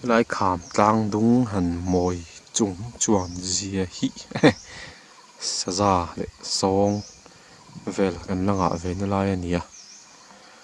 Helai kham tlang dung han mawi chung chuan zia hi ehe saza leh sawng vel kan la ngah ve na lai a ni a.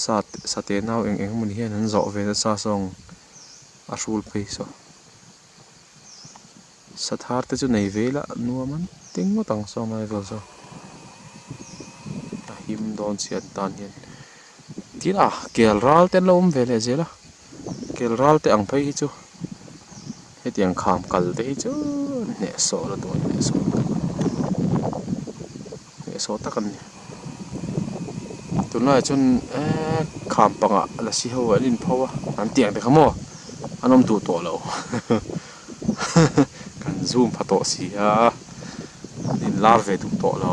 Sa sate nau eng eng mawni hian an zawh ve nasa zawng a hrul phei saw. Sathar te chu nei ve la nuam an ti ngawt ang saw ngai vel saw. A him dawn chian tan hian tila kel ral te an lo awm ve leh zel a. Kelralte ang phei hi chu hetiang kham kal te hi chu hnehsawh la duai hnehsawh tak a ni. Hnehsawh tak a ni. Tunlaiah chuan eee kham pangah la si ho an inpho a an tih ang te kha maw an awm duh tawh lo kan zoom pha tawh si a an inlar ve duh tawh lo.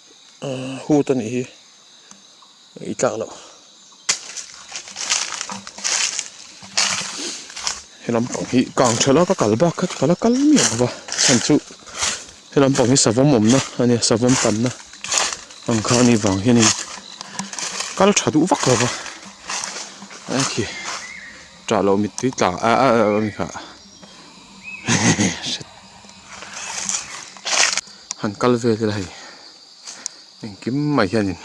hut a nih hi i tlak loh helam pang hi kang tha la ka kal bak kha ka kal a kal miah lova chhan chu helam pang hi savam awmna a nia savam tanna ang kha ani vang hian in kal tha duh vak lova engki tah loh mittui tla a a a ni kha. han kal vel ila hei engkim mai hianin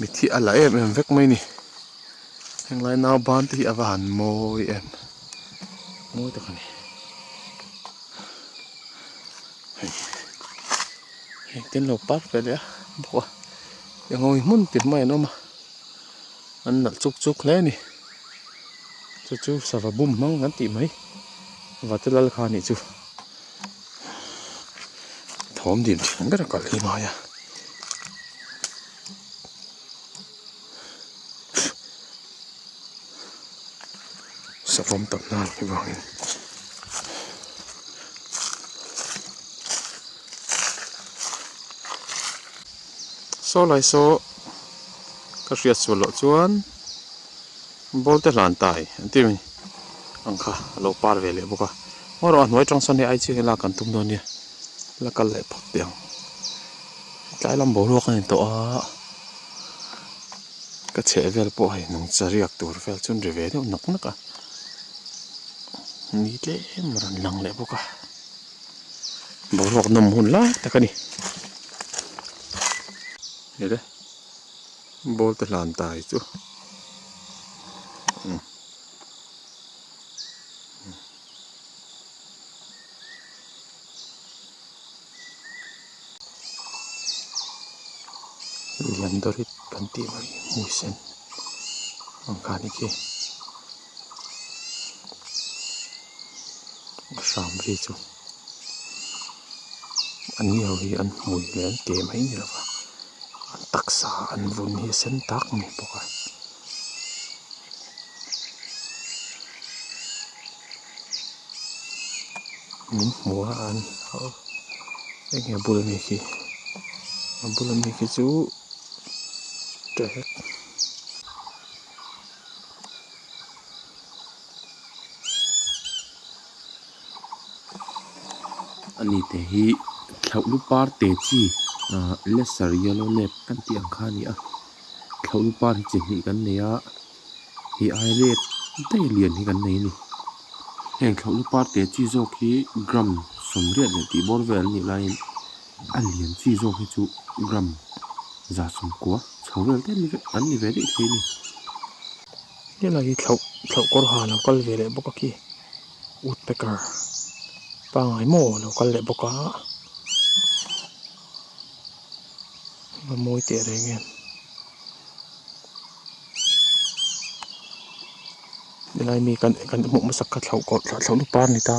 mithi a la em em vek mai ni henglai nau ban te hi ava han mawi em mawi tak a ni hei hei ten lo pat ve leh a bawk a engawngin hmun tih hmai an awm a an nalh chuk chuk hle a ni. chu chu sava bum hmang kan tih mai vate lal kha anih chu thawm dim thian ber a kalh hi mai a savam tam na ang hi vang in Saw lai saw ka hriat sual loh chuan Bawlte hlan tai an tih mai ang kha a lo par ve leh bawk a, Maw rawh a hnuai tang sawn hi ai chiang in lak an tum dawn nia la kal leh phak teh ang, tlai lam boruak a ni tawh a, ka chheh vel pawh hei nung chariak tur vel chu ri ve deuh nak nak a ni tlem a rawn lang leh bawk a. boruak nawm hun lai tak a ni ni re ball te hlan ta hi chu umm umm lian dawrit kan tih mai hi hmui sen ang kha ni khi. a hram hi chu an ni ho hi an hmui leh an ke mai ni lova an taksa an vun hi a sen tak a ni bawk a. Ani te hi thlauhlu par te chi ah laser yellow lab kan tih ang kha a ni a thlauhlu par hi chi hnih kan nei a he ai lab daih lian hi kan nei a ni heng thlauhlu par te chi zawk hi gram sawm riat leh tih bawr vel anih laiin-- A lian chi zawk hi chu gram za sum kua chho vel te ni an ni ve daih thei a ni. Tunah hi thlauh thlauh kawr ha lo kal ve leh bawk a khi, woodpecker pangngai maw a lo kal leh bawk a, a mawi teh reng em. Helai mi kan kan hmuh hmasak kha thlauh kawr thlauhna par a ni ta.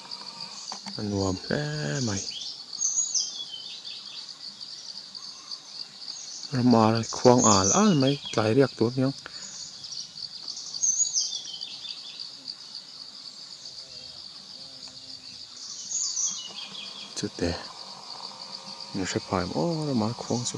a nuam hle mai rama khuang al al mai tlai riak tur aniang chute min hre phai maw rama khuang chu.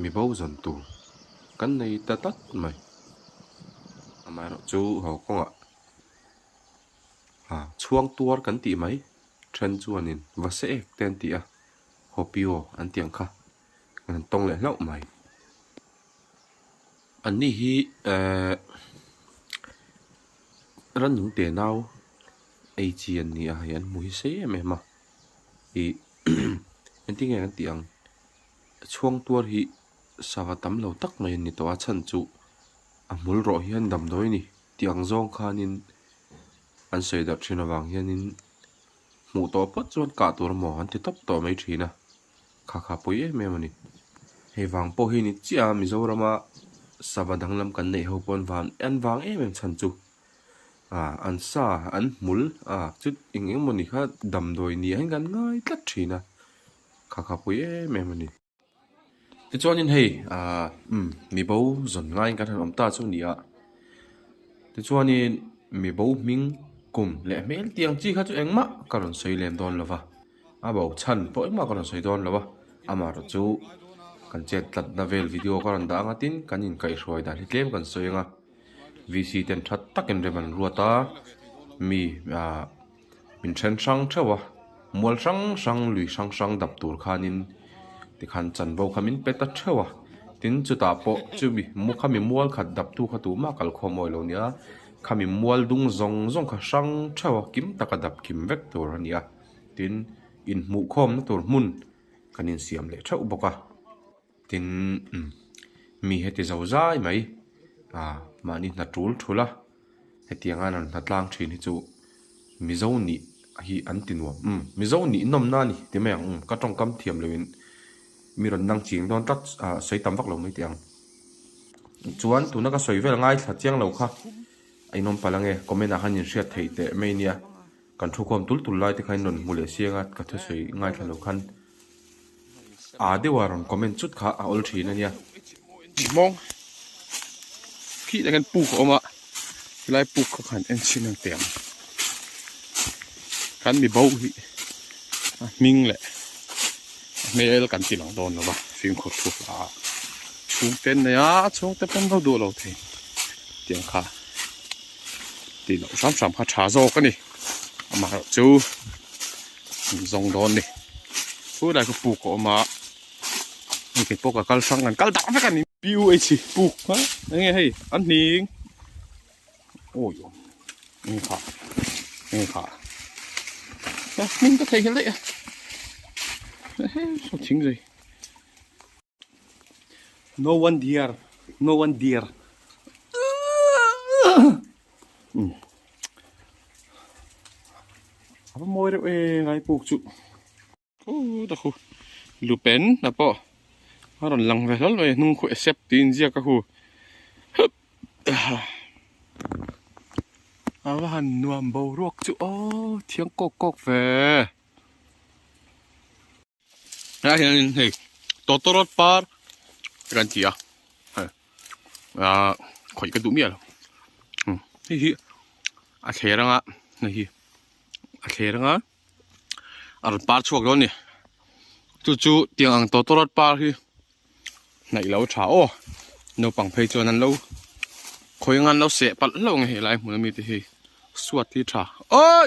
Mi bozawn tur kan nei ta tak mai. Amaherawh chu ho kawngah a chhuang tuar kan tih mai. Then chuanin va se ek te an ti a, Hopio an tih ang kha. Kan han tawng leh hlauh mai. Anni hi ehh Rannung tenau ei chi an ni a, hei an hmu hi se em em a. Ih engtin nge kan tih ang? Chhuang tuar hi sava tam lo tak mai an ni tawh a, chhan chu a hmul rawh hian damdawi a ni tih ang zawng khanin an sawi darh thin avang hianin hmuh tawh phawt chuan kah tur emaw an ti tawp tawh mai thin a, kha kha pui em em a ni. Hei vang pawh hi ni chiah a, Mizorama sava danglam kan neih ho pawn van en vang em em chhan chu ah an sa an hmul ah chu eng eng maw ni kha damdawi ni ah hian kan ngai tlat thin a. khakhapui em em a ni. Tichuanin hei ah umm mi bo zawn ngaiin kan han awm ta chu a ni a, tichuanin mi bo hming kum leh hmel tiang chi kha chu engmah ka rawn sawi lem dawn lo va, a bo chhan pawh engmah ka rawn sawi dawn lo va, amah erawh chu kan chet tlatna vel video ka rawn dah ang a tin kan inkaihhruai dan hi tlem kan sawi ang a, VC ten that takin rem an ruat a mi ah. min then hrang theuh a mual hrang hrang lui hrang hrang dap tur khanin tikhan chanvo kha min pet a theuh a tin chutah pawh chumi khami mual khat dap tu kha tuh mahk kalkhawm awilo nia khami mual dung zawng zawng kha hrang theuh a kim taka dap kim vek tur a ni a tin inhmuh khawm na tur hmun kan insiam leh theuh bawk a. Tin, umm, mi he ti zo zai mai, ah, mahni hna tul thul a, hetiang an rawn hna tlang thin hi chu Mizo nih hi an ti nuam, umm, Mizo nih nawmna a ni ti mai ang, umm, ka tawngkam thiam lo in mi rawn nang ching dawn tlat, ah, sawi tam vak lo mai teh ang. Chuan tuna ka sawi vel ngaithla chiang lo kha, a inawm palh ange, comment ah khan inhriat theih teh mai nia. Kan thu khawm tul tul lai te kha in rawn hmu leh siang a, ka thusawi ngai thla lo khan aa deuh a rawn comment chut kha a awl thin a nia. Tih mawng khi tak hian puk a awm a, helai puk kha khan en chin ang teh ang. Kan mi bo hi a hming leh a hmel kan ti loh dawn lo va, fimkhur thu hla ah chhungte an nei a, chhungte pawm duh duh lo thei tiang kha tih loh hram hram kha tha zawk a ni amaherawhchu chu min zawng dawn a ni khua lai kha puk a awm a hengte pawh ka kal hrang kan kal darh vek a ni puh puk kha eng nge hei an hning ui eng kha eng kha hmun ka thei nghelh daih a heng saw thing zui No one dear, no one dear. Apa mawi reuh e ngai puk chu. Hu ta khu. Lupen na po. A rawn lang ve hlal mai e hnung khu e sep tiin ziak ka khu. Ava han nuam bo ruak chu o thiang kawk kawk ve. Helai hianin hei Totorot par kan tia hei a khawih ka duh miah lo hmm. hei hi a thler anga hei hi a thler anga a rawn par chhuak dawn ni chu chu tiang ang Totorot par hi naih lo tha aw naupang phei chuan an lo khawih anga an lo seh palh hlauh ang e helai hmun ami te hi suat hi tha oi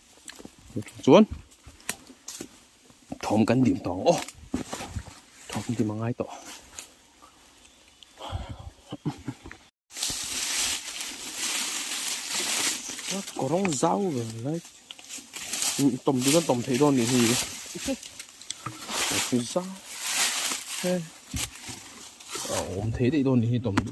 chuan thawm kan dim tawh ang aw thawm kan dim a ngai tawh. Kawr rawng zau ve mai tawm chu kan tawm thei dawn anih hi kawr zau he a awm thei daih dawn anih hi tawm chu.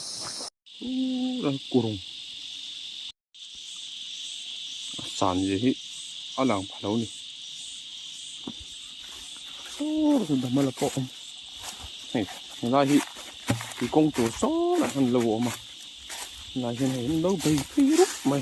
Ura kurung a san ve hi a lang pha lo ni ura dam ala pawh awm hei helai hi i kawng tur sawlah han lo awm a helai hian hei an lo bei phei rup mai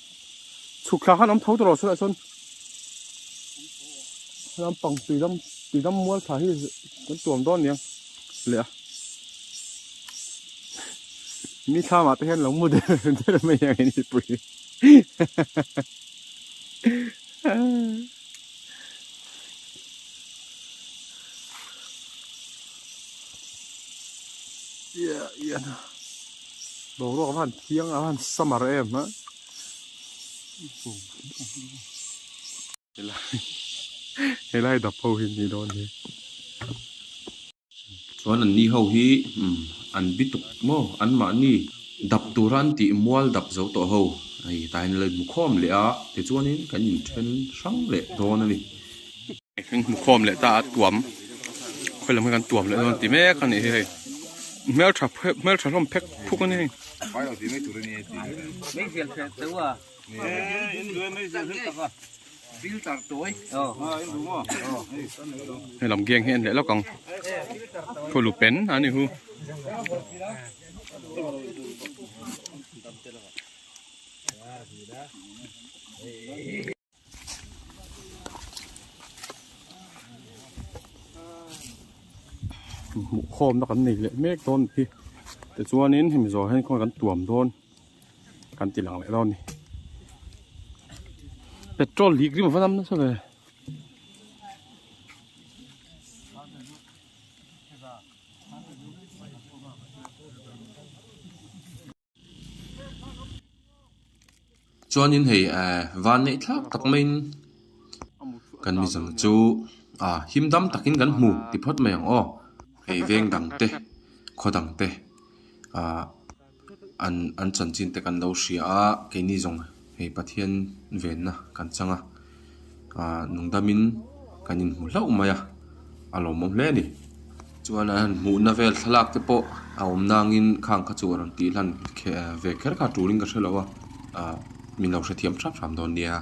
chhuk thla khan awm tho ta rawh sawiah chuan lampang tui lam tui lam mual thla hi kan tuam dawn niang leh a mi thlama te hian lo mu der der mai ang i ni pui Yeah, yeah. Boruak khan thiang a khan summer em ha. Helai dap ho hi ni don hi. Chuan an ni ho hi an bi tuk maw an mahni dap tura an tih mual dap zo tawh ho hei tah hian an lo inhmu khawm leh a tichuanin kan inthen hrang leh dawn a ni. Kan hmu khawm leh ta a tuam khawi lam hi kan tuam leh dawn ti mek a nih hi hei hmeltha hmeltha hlawm phek phuk a ni hei hei lam geng hi en leh lawk ang khaw lu pen a ni hu Hey. hmuh khawmna kan nei leh mek dawn hi tichuanin hemi zawh hian khawn kan tuam dawn kan ti lang leh dawn a ni petrol lîk rim ava lam nasa ve. Chuanin hei eh van neih thlak tak maiin kan mizo chu ah him dam takin kan hmu ti phawt mai ang aw. Hei veng dang te khaw dang te ah an an chanchin te kan lo hria a keini zawng-- hei Pathian venna kan chang a, aah nungdamin kan inhmu hlauh mai a, a lawmawm hle a ni. Chuan a han hmuhna vel thlalak te pawh a awm nangin khang kha chu a rawn tih hlan ve kher kha a turin ka hre lo a, aah min lo hrethiam hrap hrap dawn nia.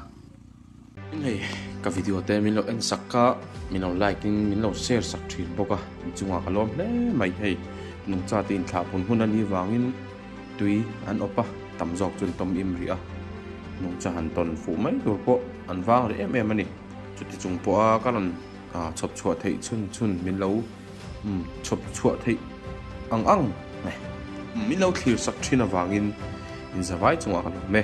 Min hei ka video te min lo en sak kha min lo like in min lo share sak thin bawk a in chungah ka lawm hle mai hei nungchate in thlah hun hun ani vangin tui an awp a tam zawk chuan tawm im rih a nungcha han tawn fuh mai tur pawh an vang rih em em ani chuti chung pawh a ka rawn chhawp chhuah theih chhun chhun min lo chhawp chhuah theih ang ang min lo thlir sak thin avangin in zavai chungah ka lawm e